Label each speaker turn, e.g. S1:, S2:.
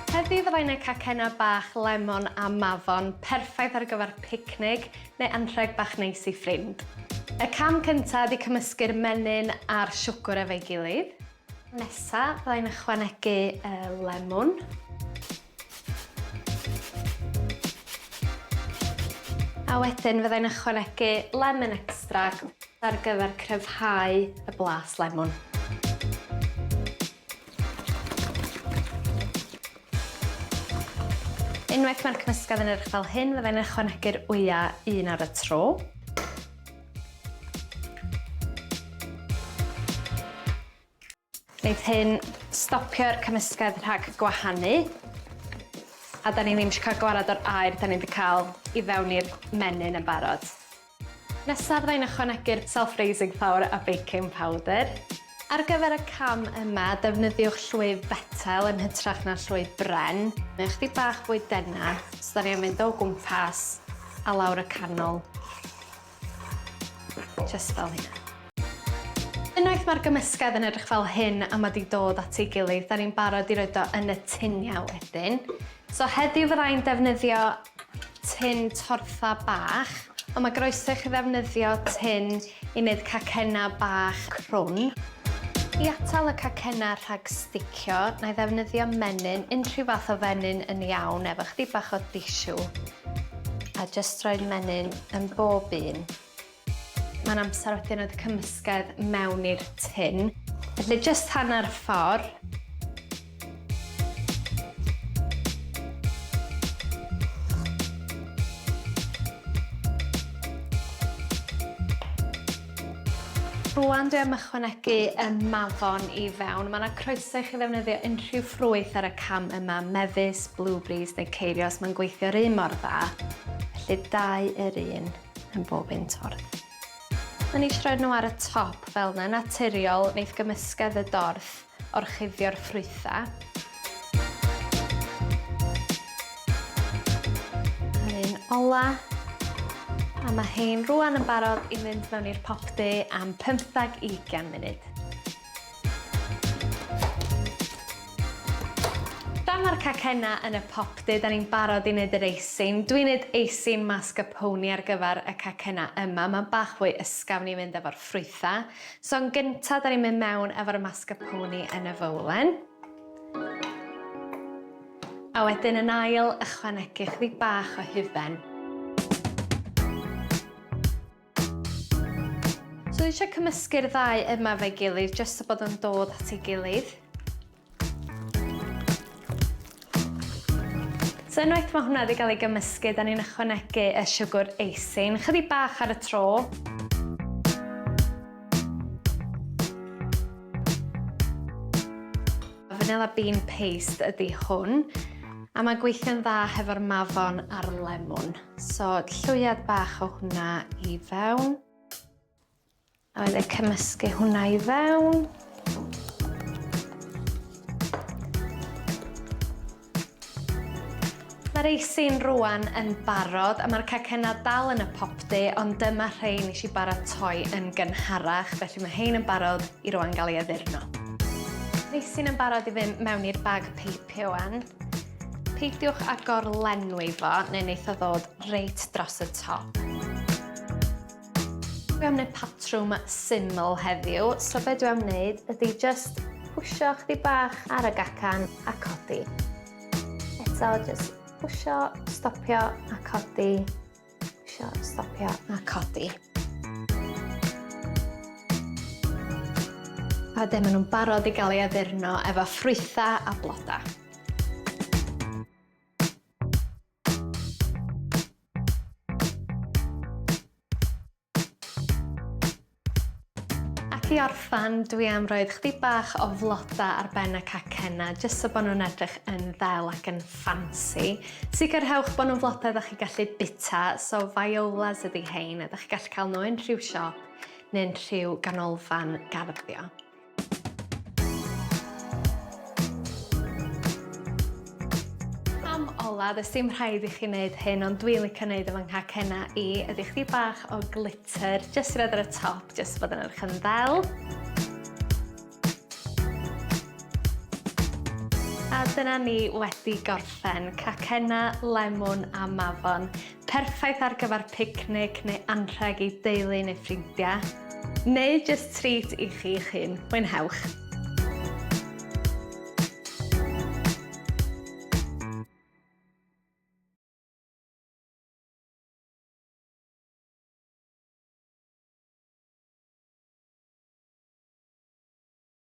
S1: Heddi fyddai'n neud cacennau bach lemon a mafon, perffaith ar gyfer picnic neu anrheg bach neis i ffrind. Y cam cyntaf ydi cymysgu'r menyn a'r siwgr efo'i gilydd. Nesa fyddai'n ychwanegu y lemwn. A wedyn fyddai'n ychwanegu lemon extract ar gyfer cryfhau y blas lemwn. Unwaith mae'r cymysgedd yn edrych fel hyn, fyddai'n ychwanegu'r wyau un ar y tro. Neith hyn stopio'r cymysgedd rhag gwahanu a 'dan ni ddim isio ca'l gwarad o'r aer 'dan ni 'di ca'l i fewn i'r menyn yn barod. Nesaf fydda i'n ychwanegu'r self raising flour a baking powder. Ar gyfer y cam yma, defnyddiwch llwyth fetel yn hytrach na llwyth bren. Mae o chydig bach fwy denau, so 'dan ni am mynd o gwmpas a lawr y canol. Jyst fel hyn. Unwaith mae'r gymysgedd yn edrych fel hyn a mae 'di dod at ei gilydd, 'da ni'n barod i roid o yn y tuniau wedyn. So heddiw fydda i'n defnyddio tin tortha bach, ond mae groeso i chi ddefnyddio tin i wneud cacennau bach crwn. I atal y cacennau rhag sticio, 'na i ddefnyddio menyn, unrhyw fath o fenyn yn iawn, efo 'chydig bach o disiw. A jyst rhoi'r menyn yn bob un. Mae'n amser wedyn oedd y cymysgedd mewn i'r tin. Felly jyst hanner ffordd. Rwan dwi am ychwanegu y mafon i fewn. Mae 'na croeso i chi ddefnyddio unrhyw ffrwyth ar y cam yma, mefus, blueberries neu ceirios, mae'n gweithio'r un mor dda. Felly dau yr un yn bob un torth. O'n i eisiau rhoi'r nhw ar y top fel 'na, naturiol, neith gymysgedd y dorth orchuddio'r ffrwythau. Yr un ola. A mae hein rwan yn barod i fynd mewn i'r popty am pymthag i ugian munud. Pan mae'r cacenna yn y popty, da ni'n barod i wneud yr eisin. Dwi'n wneud eisin mascarpone ar gyfer y cacenna yma. Mae'n bach fwy ysgafn i fynd efo'r ffrwythau. So yn gynta, da ni'n mynd mewn efo'r mascarpone yn y fowlen. A wedyn yn ail, ychwanegu chydig bach o hufen. So dwi eisiau cymysgu'r ddau yma fe gilydd, jyst so bod yn dod at ei gilydd. So unwaith mae hwnna wedi cael ei gymysgu, da ni'n ychwanegu y siwgr eisin, chydig bach ar y tro. Vanilla bean paste ydy hwn, a mae'n gweithio'n dda hefo'r mafon a'r lemwn. So llwyad bach o hwnna i fewn. A wedyn cymysgu hwnna i fewn. Mae'r eisin rwan yn barod a mae'r cacena dal yn y popty ond dyma rhei nes i baratoi yn gynharach felly mae hein yn barod i rwan gael ei addurno. Eisin yn barod i fynd mewn i'r bag peipio wan. Peidiwch â gorlenwi fo neu neith o ddod reit dros y top. Dwi am wneud patrwm syml heddiw, so be dwi am wneud ydy just pwysio chdi bach ar y gacan a codi. Eto, just pwysio, stopio a codi. Pwysio, stopio a codi. A de, maen nhw'n barod i gael ei addurno efo ffrwythau a blodau. Ac i orffen, dwi am roedd chdi bach o floda ar ben y cacenna, jyst so bod nhw'n edrych yn ddel ac yn ffansi. Sicrhewch bod nhw'n floda ydych chi gallu bita, so violas ydi hein, ydych chi gallu cael nhw yn rhyw siop neu'n rhyw ganolfan garddio. Cam ola, does dim rhaid i chi wneud hyn, ond dwi'n licio wneud efo nghacena i, ydy chdi bach o glitter, jyst i roed ar y top, jyst bod yn edrych yn ddel. A dyna ni wedi gorffen, cacena, lemwn a mafon. Perffaith ar gyfer picnic neu anrheg i deulu neu ffrindiau. Neu jyst treat i chi'ch hun. Mwynhewch!